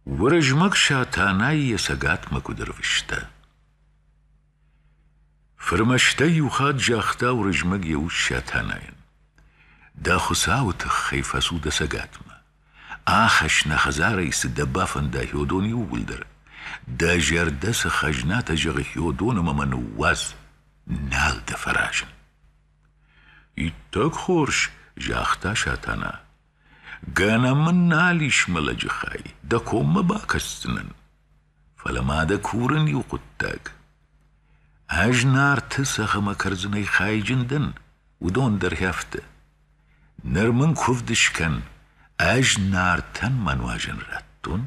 Уырызмӕг Сатанайы йӕ цӕгатмӕ куыд ӕрвыста. Фырмӕстӕй иу хатт загъта Уырызмӕг йӕ ус Сатанайӕн: Дӕ хуыцауы тыххӕй фӕцу дӕ цӕгатмӕ. Ахӕсс нӕ хӕдзарӕй цы дӕ бафӕнда Хьодоны иууылдӕр. Дӕ зӕрдӕ цы хӕзнатӕ зӕгъы Хьодоным ӕмӕ ныууадз, нал дӕ фӕразын. Иттӕг хорз, загъта Сатана Гӕнӕн мын нал ис мӕ лӕджы хай, дӕ коммӕ бакӕсдзынӕн. Фӕлӕ ма дӕ курын иу хъуыддаг. Ӕз Нарты цӕхӕмӕ кӕрдзынӕй хайджын дӕн, уыдон дӕр хӕфты. Ныр мын куывд скӕн, ӕз Нартӕн мӕ нуазӕн радтон?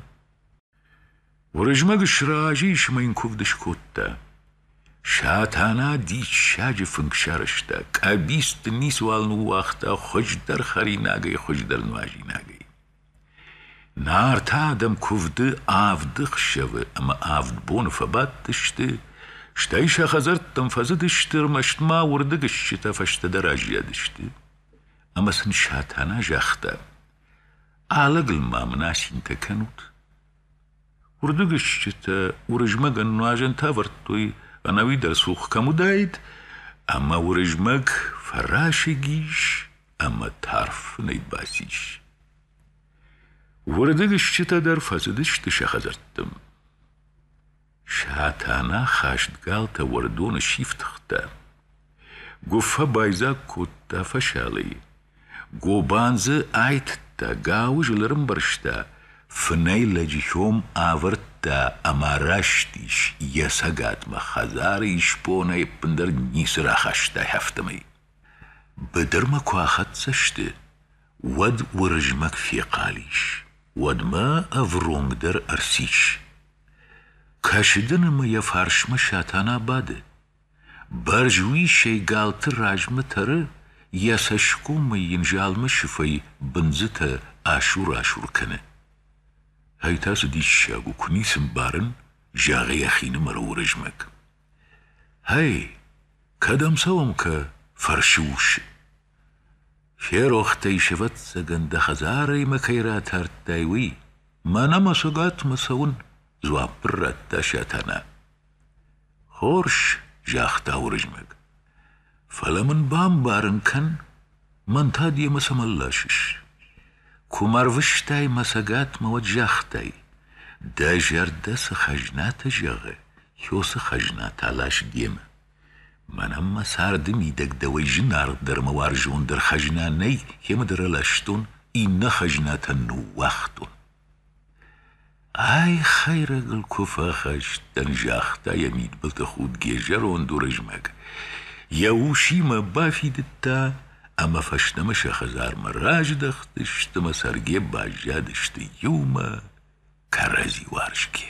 Уырызмӕг сразы ис ӕмӕ йын куывд скодта. Сатана диссаджы фынг сарӕзта, къӕбицты ницыуал ныууагъта хуыздӕр хӕринагӕй, хуыздӕр нуазинагӕй. Нартӕ адӕм куывды авд ӕхсӕвы ӕмӕ авд боны фӕбадтысты, стӕй сӕ хӕдзӕрттӕм фӕзыдысты, ӕрмӕст ма уырдыгыстджытӕ фӕстӕдӕр аззадысты. Ӕмӕ сын Сатана загъта: Алыгыл ма мын асинтӕ кӕнут? Уырдыгыстджытӕ Уырызмӕгӕн нуазӕнтӕ ӕвӕрдтой, ӕнӕуи дӕр цух кӕм уыдаид, ӕмӕ Уырызмӕг фӕрасыг ис ӕмӕ тарф фынӕй бацис. Уырдыгыстджытӕ дӕр фӕцыдысты сӕ хӕдзӕрттӕм. Сатана хӕстгалтӕ уӕрдоны сифтыгъта. Гуыффӕ байдзаг кодта фӕсалыйы. Гобан дзы айтыдта, гауызыл ӕрӕмбӕрзта, фынӕй лӕджы хьом авӕрдта ӕмӕ растис йӕ цӕгатмӕ, хӕдзары исбонӕй ӕппындӕр ницы рахастай, афтӕмӕй. Быдырмӕ куы ахӕццӕ сты, уӕд Уырызмӕг фехъал ис. Уӕдмӕ ӕвронг дӕр ӕрцис. Кӕсыды нымы йӕ фарсмӕ Сатана бады. Бӕрзуисӕй галты размӕ тӕры, йӕ цӕсгомӕй йын залмы сыфӕй бындзытӕ асур-асур кӕны. Ай та цы диссаг у, куы ницы мбарын, зӕгъы йӕхинымӕры Уырызмӕг. Гьӕй, кӕдӕм цӕуӕм, кӕ? фӕрсы ус. Ферохтӕй, сывӕццӕгӕн, дӕ хӕдзарӕй мӕ кӕй ратардтай, уый. Мӕнӕ мӕ цӕгатмӕ цӕуын, дзуапп радта Сатана. Хорз, загъта Уырызмӕг. Фӕлӕ мын бамбарын кӕн, мӕн та демӕ цӕмӕн ласыс? Куы мӕ рвыстай мӕ цӕгатмӕ, уӕд загътай, дӕ зӕрдӕ цы хӕзнатӕ зӕгъы, уыцы хӕзнатӕ лас демӕ. Мӕнӕн мӕ царды мидӕг дӕуӕй зынаргъдӕр мӕ уарзондӕр хӕзна нӕй, кӕмӕдӕр ӕластон, иннӕ хӕзнатӕн ныууагътон. Ай хӕйрӕгыл куы фӕхӕст дӕн, загъта йӕ мидбылты худгӕ зӕронд Уырызмӕг. Йӕ усимӕ бафидыдта ӕмӕ фӕстӕмӕ сӕ хӕдзармӕ раздӕхтысты мӕ цӕргӕ баззадысты иумӕ кӕрӕдзи уарзгӕ.